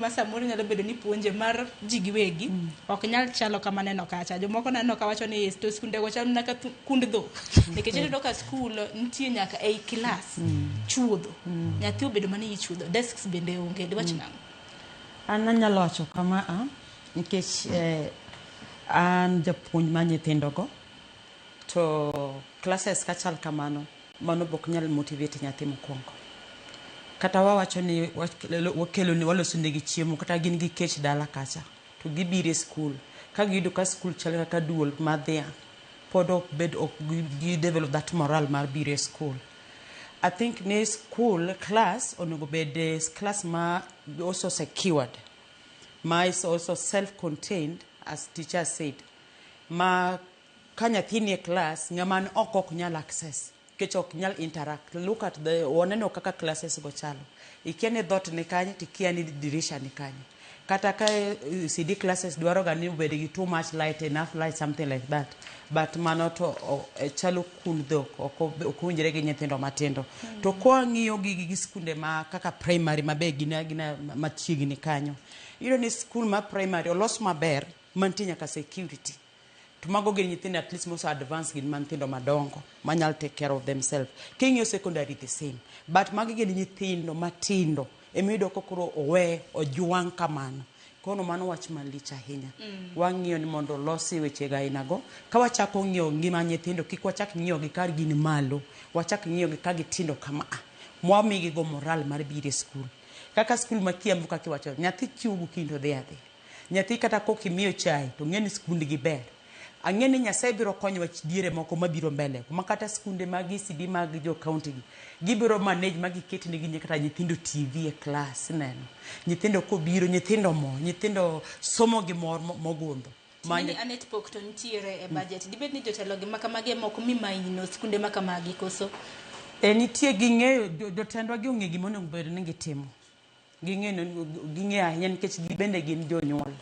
ma samoro nyalo bedo ni puonje mar ji giwegi ok nyal chalo kama neno kacha jomoko naneno ka wacho ni "Yes, to skundego chal mana ka thu- kund dhok nikech ineno ka skul nitie nyaka ei kilas chuodho nyathi obedo mana iyi chuodho desks bende onge diwach nang'o an anyalo wacho kama a nikech eh, an japuonj ma nyithindogo to classes ka chal kamano Mano bok nyal motivate nyathi mokwongo. Kata wawacho ni wakelone walosonegi chiemo kata gin gi kech dala kacha to gibiro e skul ka giyudo ka skul chal kaka duol mar dhiang' pod ok bed ok gi develop that moral mar biro e skul. I think ni skul class onego bed eh, class ma also secured ma is also self contained as teacher said ma Ka nyathi nie class ng'ama ni oko ok nyal access nikech ok nyal interact. Look at the oneno kaka classes go chalo. Ikia ni dhoot ni kanye to ikia ni dirisha ni kanye. Kata ka ECD classes dwaro ga ni obed gi too much light, enough light something like that. But mano to chalo kund dhok ok ok owinjore gi nyithindo matindo. To kwa ng'iyo gi gi skunde ma kaka primary ma be gin agina machiegni kanyo. Iyudo ni skul ma primary olos maber mantie nyaka security. To mago gin nyithindo at least mose advance gin manthindo madongo manyal take care of themselves. King'iyo secondary the same. But magi gin nyithindo matindo emiyudo ka koro owe ojwang' kamano. Kono mano wach malich ahinya. Wang'iyo ni mondo olosi wechego aina go. Ka wachako ng'iyo ngima nyithindo kik wachak ng'iyo gi ka gin malo. Wachak ng'iyo gi ka gitindo kama a. Mwamigi go moral mar biro e skul. Kaka skul ma Kiambu kaka iwacho nyathi chiewo gokinyi to odhi adhiya. Nyathi kata kok imiyo chai to ng'eni skund gi ber. Ang'e ni Nyasaye biro konyowa diere moko mabiro mbele kuma kata skunde mag ECD mag jo county gi gibiro manage ma giket ne gi kata nyithindo TV e class ineno. Nyithindo kobiro nyithindo mor, nyithindo somo gi mor mogundho. Ting'e ni ane pok to nitiere e budget. Dibed ni jotelo gi makamagi ema ok mi maino skunde makamagi koso? Ee nitie ging'eyo, jotendwa gi ong'e gima onego bed ni gitimo. Ging'e ging'e ahinya nikech gibende gin jonyuol.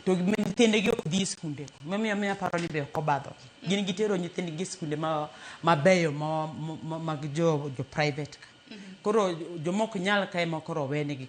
To gin nyithindegi ok dhi e skunde. Mamiyo miyo aparo ni be ok obadho. Gin gitero nyithindgi e skunde ma mabeyo ma mag jo jo private ka. Koro jomok nyal ka ema koro owenegi.